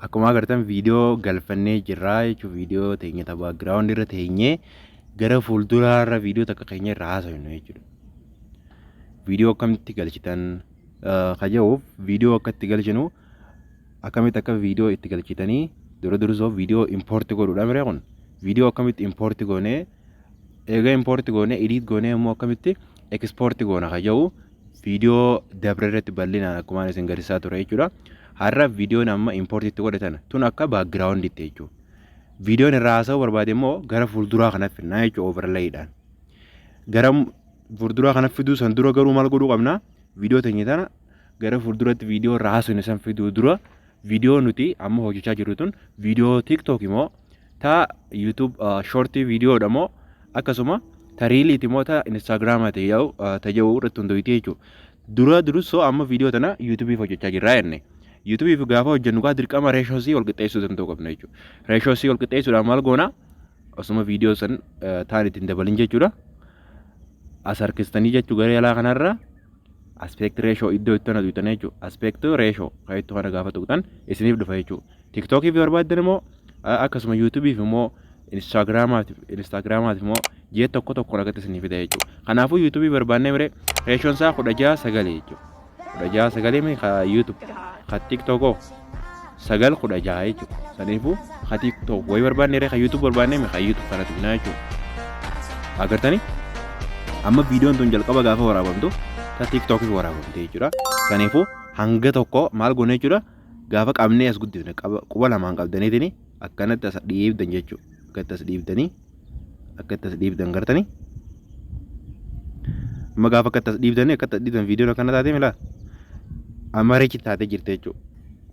Akkuma agartan viidiyoo galfannee jirra jechuun viidiyoo teenya ta background irra teenyee gara fuulduraa irra viidiyoo takka keenya irra haasofnu jechuudha. Viidiyoo akkamitti galchitan kajahuuf viidiyoo akka itti galchinu akkamitti akka viidiyoo itti galchitanii dura dursoo viidiyoo impoorti godhuudha miree kun viidiyoo akkamitti impoorti goonee Eega import goone edit goone immoo akkamitti export goona kan jedhu viidiyoo dabre irratti bal'inaan akkuma isin garsiisaa ture jechuudha. Har'a viidiyoon amma import itti godhatan tun akka background itti jechuudha. Viidiyoon irraa haasa'uu barbaade immoo gara fuulduraa kana fidnaa jechuudha overlayidhaan. Gara fuulduraa kana fiduu san dura garuu maal godhuu qabna? Viidiyoo teenya tana gara fuulduratti viidiyoo irraa haasofne san fiduu dura viidiyoo nuti amma hojjechaa jirru tun viidiyoo TikTok moo ta YouTube short video dha moo akkasuma ta reelii ti moo ta Instagram ti yaa'u ta jedhu irratti hundoyte jechuudha. Dura dursoo amma video tana YouTube hojjechaa jirra jenne. YouTube fi gaafa hojjennu gaa dirqama ratio C wal qixxeessuu danda'u qabna jechuudha. Ratio C wal qixxeessuudhaan maal goona? Osuma video san taan ittiin dabalin jechuudha. As harkistanii jechuu gara jalaa kanarraa aspect ratio iddoo itti ana tuqxan jechuudha. Aspect ratio kan itti kana gaafa tuqxan isiniif dhufa jechuudha. Tiktookiif yoo barbaaddan immoo akkasuma yuutuubiif immoo instaagiraamaatiif instaagiraamaatiif immoo ji'a tokko tokko argatti isiniif fida jechuudha. Kanaafuu yuutuubii barbaannee mire reeshoon isaa kudha ja'a sagalee jechuudha. Kudha ja'a sagalee mi ka yuutuub ka tiktookoo. sagal kudha jaha jechuudha. Saniifuu ka TikTok wayi barbaanne ree ka YouTube barbaanne mi ka YouTube kana tuqnaa jechuudha. Agartanii? Amma viidiyoon tun jalqaba gaafa waraabamtu ta TikTokis waraabamte jechuudha. Saniifuu hanga tokko maal goone jechuudha. Gaafa qabnee as guddifne quba lamaan qabdaniitini akkanatti as dhiibdan jechuudha. Akkatti as dhiibdanii akka itti as dhiibdan gartanii amma gaafa akka itti as dhiibdan akka itti as dhiibdan viidiyoon akkana taatee milaa amareechi taatee jirti jechuudha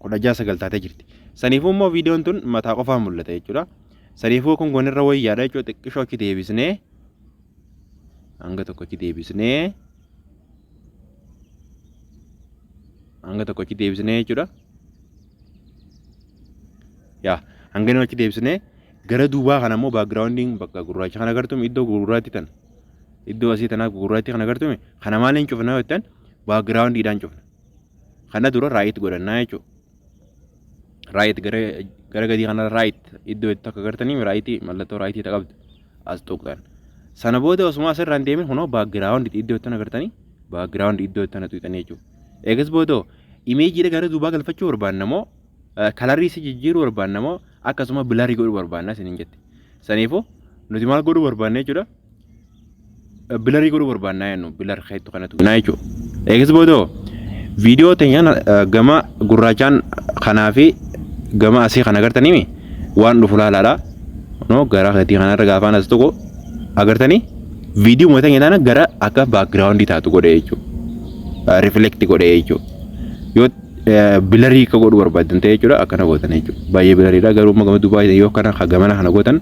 kudha ja'a sagal taatee jirti saniifuu immoo viidiyoon tun mataa qofaa mul'ata jechuudha saniifuu kun gonirra wayyaadha jechuudha xiqqishoo achi deebisnee hanga tokko achi deebisnee hanga tokko achi deebisnee jechuudha yaa hanga inni achi deebisnee Gara duubaa kana immoo backgrounding bakka gurraacha kana agartume iddoo gurraatti tan iddoo asii tanaaf gurraatti kana agartume kana maaliin cufna yoo jettan backgroundidhaan cufna. Kana dura right godhannaa jechuudha. Right gara gara gadii kana right iddoo itti akka agartanii right mallattoo right ta qabdu as tuqxan. Sana booda osuma asirraan deemin kunoo background iddoo itti agartanii background iddoo itti tuqxan jechuudha. Eegas booda imeejiidha gara duubaa galfachuu barbaanna moo kalarii si jijjiiruu barbaanna moo akkasuma bilarii godhuu barbaanna isiniin jette. Saniifuu nuti maal godhuu barbaanna jechuudha. Bilarii godhuu barbaanna jennu bilar keettu kanatu naa jechuudha. Eegas boodoo viidiyoo teenyaan gama gurraachaan kanaa fi gama asii kan agartanii waan dhufu laalaadha. Noo gara keetii kanarra gaafaan as tokko agartanii viidiyoo mootan jedhana gara akka baakgiraawundii taatu godhe jechuudha. Riflekti godhe jechuudha. bilarii akka godhu barbaadan ta'e jechuudha akkana gootan jechuudha baay'ee bilariidha garuu amma gama dubaayii yoo kana ka gamana kana gootan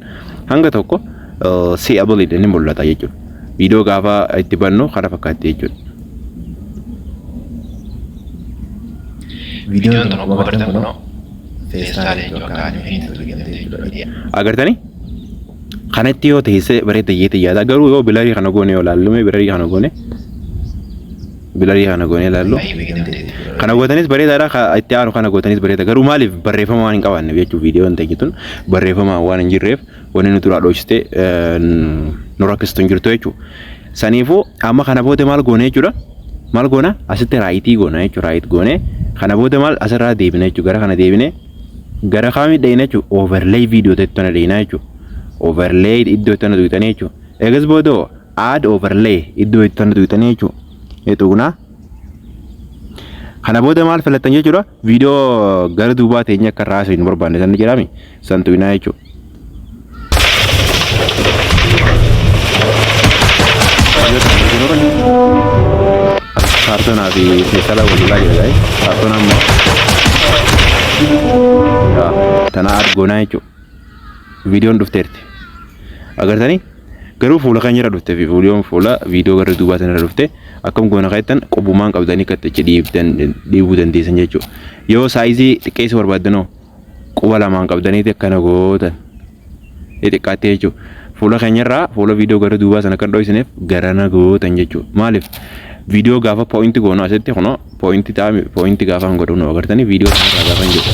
hanga tokko si abaliidha ni mul'ata jechuudha viidiyoo gaafa itti bannu kana fakkaatti jechuudha. Viidiyoon tokko agartan kunoo feestaala jechuudha akka animeetiin tolgamte jechuudha. Agartanii? Kanatti yoo teessee bareedda jeetii yaada garuu yoo bilarii kana goone yoo laallume bilarii kana goone bilarii kana goonee ilaallu. Kana gootanis bareedaadha ka itti aanu kana gootanis bareeda garuu maaliif barreeffama waan hin qabaanneef jechuun viidiyoon ta'e jetun barreeffama waan hin jirreef wanni nu duraa dhoksite nu rakkistu hin jirtu jechuudha. Saniifuu amma kana booda maal goone jechuudha. Maal goona asitti raayitii goona jechuudha raayit goone kana booda maal asirraa deebina jechuudha gara kana deebine gara kaamii dhayina jechuudha overlay viidiyoo ta'e tana dhayina jechuudha. Overlay iddoo tana duutanii jechuudha. Eegas booda add overlay iddoo itti tana tuqxanii jechuudha. Tuqna. Kana booda maal filattan jechuudha viidiyoo gara duubaa teenya akka irraa haasofnu barbaanne san ni jedhame san tuqnaa jechuudha. Kaartoonaa fi keesala walirraa jira gaa'e kaartoonaa immoo tanaa argoonaa jechuudha. viidiyoon dhufteerti agartanii garuu fuula keenya irra dhufte viidiyoon fuula viidiyoo gara duubaa sana irra dhufte akkam goona kaa'ettan qubumaan qabdanii akka itti dhiibdan dhiibuu dandeessan jechuudha yoo saayizii xiqqeessuu barbaaddanoo quba lamaan qabdaniiti akkana gootan ni xiqqaattee jechuudha fuula keenya irraa fuula viidiyoo gara duubaa sana kan dho'isineef garana gootan jechuudha maaliif viidiyoo gaafa poo'inti goonu asitti kunoo Poointi ta'a poointi gaafa hin godhu nu agartanii viidiyoo kanarraa gaafa hin jedhu.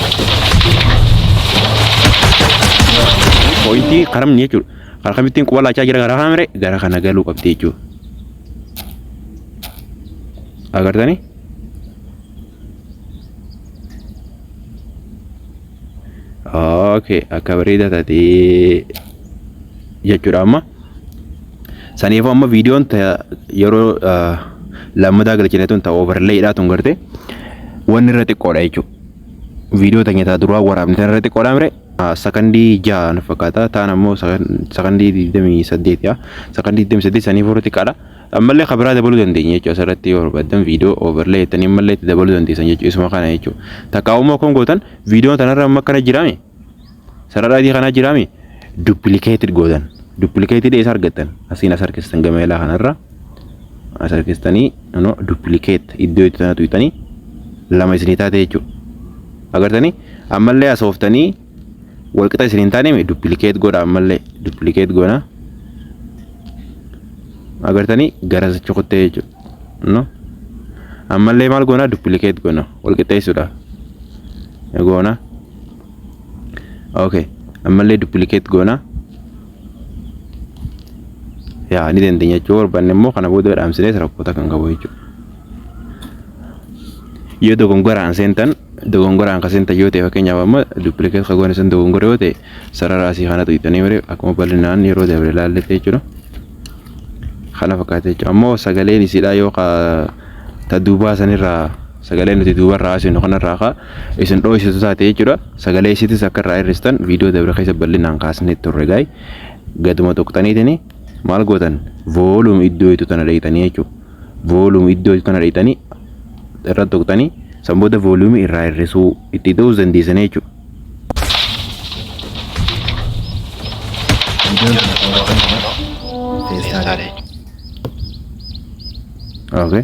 Poointi karamni jechuudha. Karaa kamittiin quba laachaa jira gara kaamire gara kana galuu qabdi jechuudha. Agartanii? Okay, akka bareeda taatee jechuudha amma. Saniifuu amma viidiyoon yeroo lammataa galchine tun ta overlayidhaa tun garte wanni irra xiqqoodha jechuudha. Viidiyoo tanya taa duraa waraabne tan irra xiqqoodha mire sakandii ja'a na fakkaata taan ammoo sakandii digdamii saddeet yaa sakandii digdamii saddeet saniifuu irra xiqqaadha. Ammallee kan biraa dabaluu dandeenya jechuudha asirratti yoo barbaaddan viidiyoo overlay jettanii ammallee itti dabaluu dandeessan jechuudha isuma kana jechuudha. Takka ammoo kan gootan viidiyoon tanarra amma akkana jiraame Sarara adii kanaa jiraami duplicated gootan. Duplicated eessa argattan? Asiin as harkistan gama ilaa kanarra. As harkistanii no duplicate iddoo itti tana tuyxanii lama isinii taate jechuudha. Agartanii ammallee asooftanii walqixa isin hin taane duplicate godha ammallee duplicate goona. Agartanii gara sichi kuttee jechuudha. No ammallee maal goona duplicate goona walqixxeessuudha. Goona. okay ammallee duplicate goona yaa ni dandeenya jechuu barbaanne immoo kana booda dhaamsinees rakkoota kan qabu jechuudha yoo dogongoraan seentan dogongoraan kan seentan yoo ta'e fakkeenyaaf amma duplicate kan goone sun dogongora yoo ta'e sarara asii kana tuqxanii malee akkuma bal'inaan yeroo dabre ilaalletti jechuudha kana fakkaata jechuudha ammoo sagaleen isiidhaa yoo ka ta duubaa sanirraa sagalee nuti duubarraa haasinu kanarraa kaa isin dhooysitu taate jechuudha. Sagalee isiitis akka irraa hir'istan viidiyoo dabre keessa bal'inaan kaasnee turre gaay. Gaduma tuqxaniitini maal gootan voolum iddoo itti tana dheeytanii jechuudha. Voolum iddoo itti tana dheeytanii irra tuqxanii san booda voolumii irraa hir'isuu itti ta'uus dandeessan jechuudha. Okay.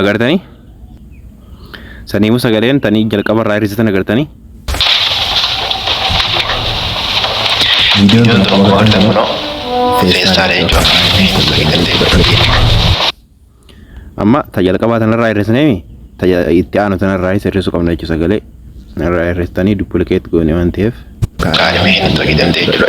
agartanii saniimu sagaleen tanii jalqaba irraa hir'isitan agartanii viidiyoon tana kan bohaartan kunoo feestaala jechuudha feesbuuk keessatti fudhatama amma ta jalqabaa tanarraa hir'isneemi ta ja- itti aanu tanarraa hir'isuu qabna jechuu sagalee irraa hir'istanii duplikeet goone waan ta'eef kaadhimee hin fayyadamte jechuudha